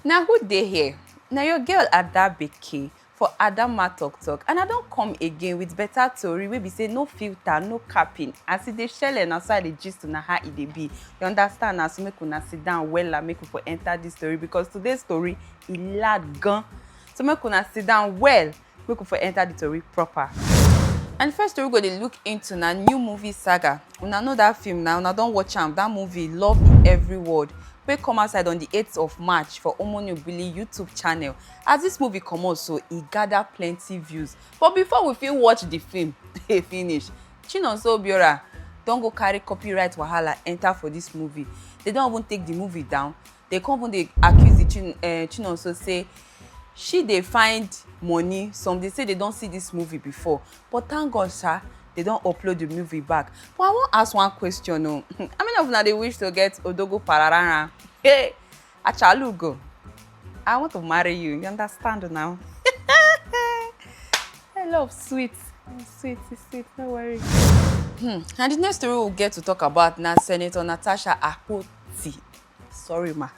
na who dey here na your girl ada beke for adamma talk talk and i don come again with better tori wey be say no filter no capping as e dey shele na so i dey gist una how e dey be you understand na so make una sit down wella make we for enter this tori because today's tori e loud gan so make una sit down well Make we for enter the tori proper. And the first story we go dey look into na new movie saga. Una know that film na, una don watch am, that movie Love in Every Word wey come outside on the eighth of March for Omoni Obili YouTube channel. As this movie comot so, e gather plenty views. But before we fit watch the film finish, Chinonso Obiora don go carry copyright wahala enter for this movie. They don even take the movie down. dey come even dey accuse the chin uh, chinonso say she dey find money some dey say they don see this movie before but thank god sha they don upload the movie back but i wan ask one question o oh. how many of una dey wish to get odogo pararara hey achalugo i want to marry you you understand now i love sweet sweet sweet no worry. Hmm. and the next story we we'll get to talk about na senator natasha akpoti sorry ma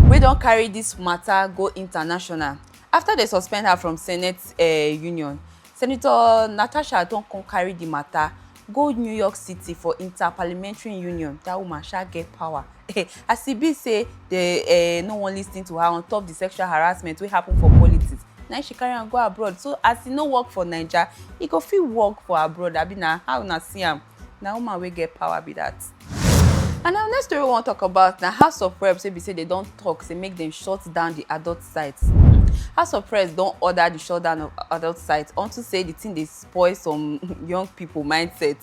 wey don carry dis mata go international afta dem suspend her from senate eh, union senator natasha don come carry di mata go new york city for interparliamentary union dat woman sha get power as e be say dem eh, no wan lis ten to her on top di sexual harassment wey happen for politics na im she carry am go abroad so as e no work for naija e go fit work for abroad abi na how una see am. na woman wey get power be that. And our next story we wan talk about na House of Reps wey be say they don talk say make dem shut down the adult sites. House of Reps don order the shutdown of adult sites unto say the thing dey spoil some young people mindset.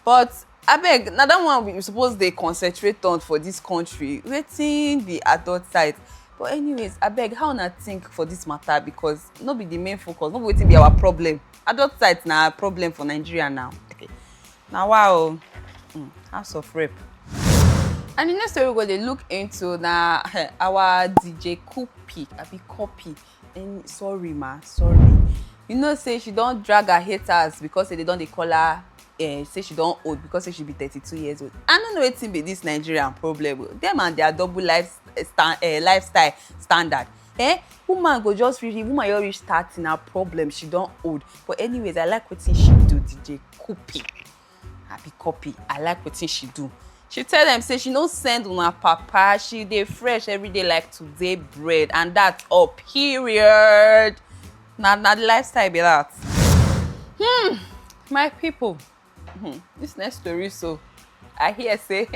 But abeg, na that one we suppose dey concentrate on for this country. Wetin be adult site? But anyways, abeg how una think for this matter because no be the main focus, no be wetin be our problem. adult sites na problem for nigeria now okay. na wa o oh. mm, house of rape. and the next story we go dey look into na our dj kupi abi copy and sorry ma sorry you know say she don drag her haters because say they don dey call her uh, say she don old because say she be thirty-two years old i no know wetin be this nigerian problem o oh. dem and their double life eh, sta uh, lifestyle standard eh woman go just really woman just reach thirty na problem she don old but anyways i like wetin she do dj copy i be copy i like wetin she do she tell dem say she no send una papa she dey fresh every day like today bread and that all period na na the lifestyle be that hmm my people Hmm, this next story so i hear say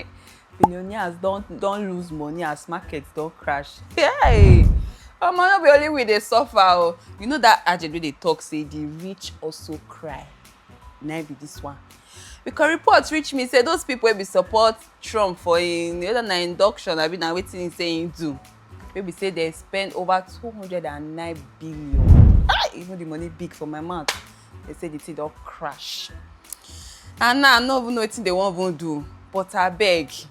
billionaires don don lose money as markets don crash hey omo no be only we dey suffer o oh. you know that adjed wey dey talk say the rich also cry na be this one because reports reach me say those people wey be support trump for im whether na induction abi na wetin he say he do wey be say dem spend over two hundred and nine billion ah even the money big for my mouth They say the thing don crash. And now I no even know wetin they wan even do. But abeg,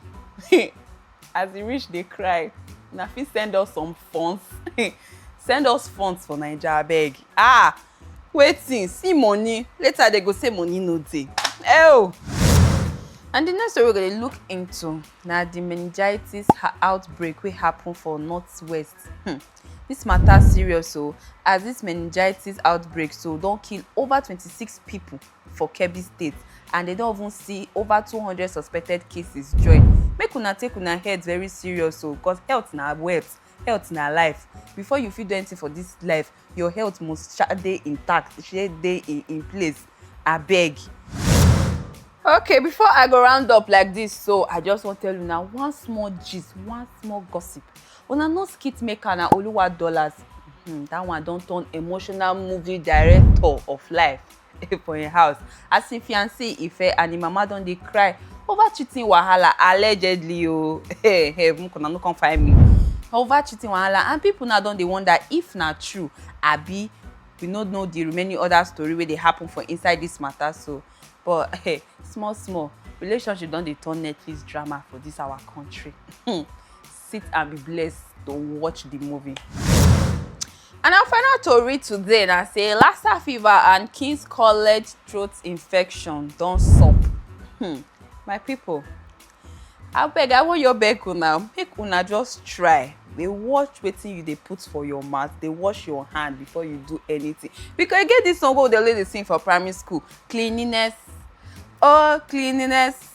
as e reach dey cry, una fit send us some funds. send us funds for Naija abeg. Ah! Wetin? See money. Later they go say money no dey. Ew! And the next story we go dey look into na the meningitis outbreak wey happen for northwest Hmm. This matter serious so oh. as this meningitis outbreak so don't kill over 26 people for Kebbi State and they don't even see over 200 suspected cases join. Make una take una head very serious so oh, because health na wealth, health na life. Before you fit do anything for this life, your health must sha dey intact e shey dey in in place abeg. okay before i go round up like this so i just wan tell una one small gist one small gossip una know skit maker na oluwa dollars hmm, that one don turn emotional movie director of life for im house as im fiancee Ife and im mama don dey cry over cheating wahala allegedly o hey, hey, make una no come find me over cheating wahala and people now don dey wonder if na true abi we no know the remaining other story wey dey happen for inside this matter so but hey, small small relationship don dey turn netflix drama for this our country. Hmm. sit and be blessed to watch the movie. And our final tori today na say Lassa fever and King's College throat infection don sup. Hmm, my people, abeg I wan your beg una make una just try dey watch wetin you dey put for your mouth dey wash your hand before you do anything because e get this song wey we dey always dey sing for primary school cleanliness oh cleanliness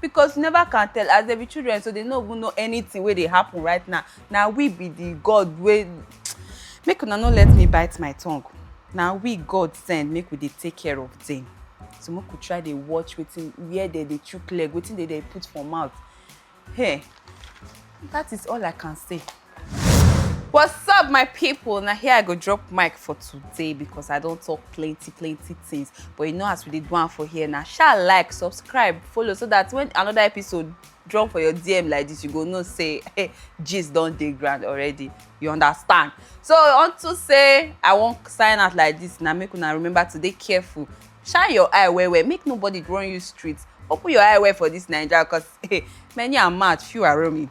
because you never can tell as they be children so they no even know anything wey dey happen right now na we be the god wey make una no let me bite my tongue na we god send make we dey take care of them so make we try dey watch wetin where they dey chook leg wetin they dey put for mouth hey that is all i can say. What's up my people? Now here I go drop mic for today because I don't talk plenty plenty things but you know as we did one for here now shall like, subscribe, follow so that when another episode drop for your DM like this you go no say hey gist don't dey grand already you understand so unto say I won't sign out like this Now make una remember to be careful shine your eye where where make nobody run you streets. open your eye where for this Nigeria because hey, many are mad few are roaming.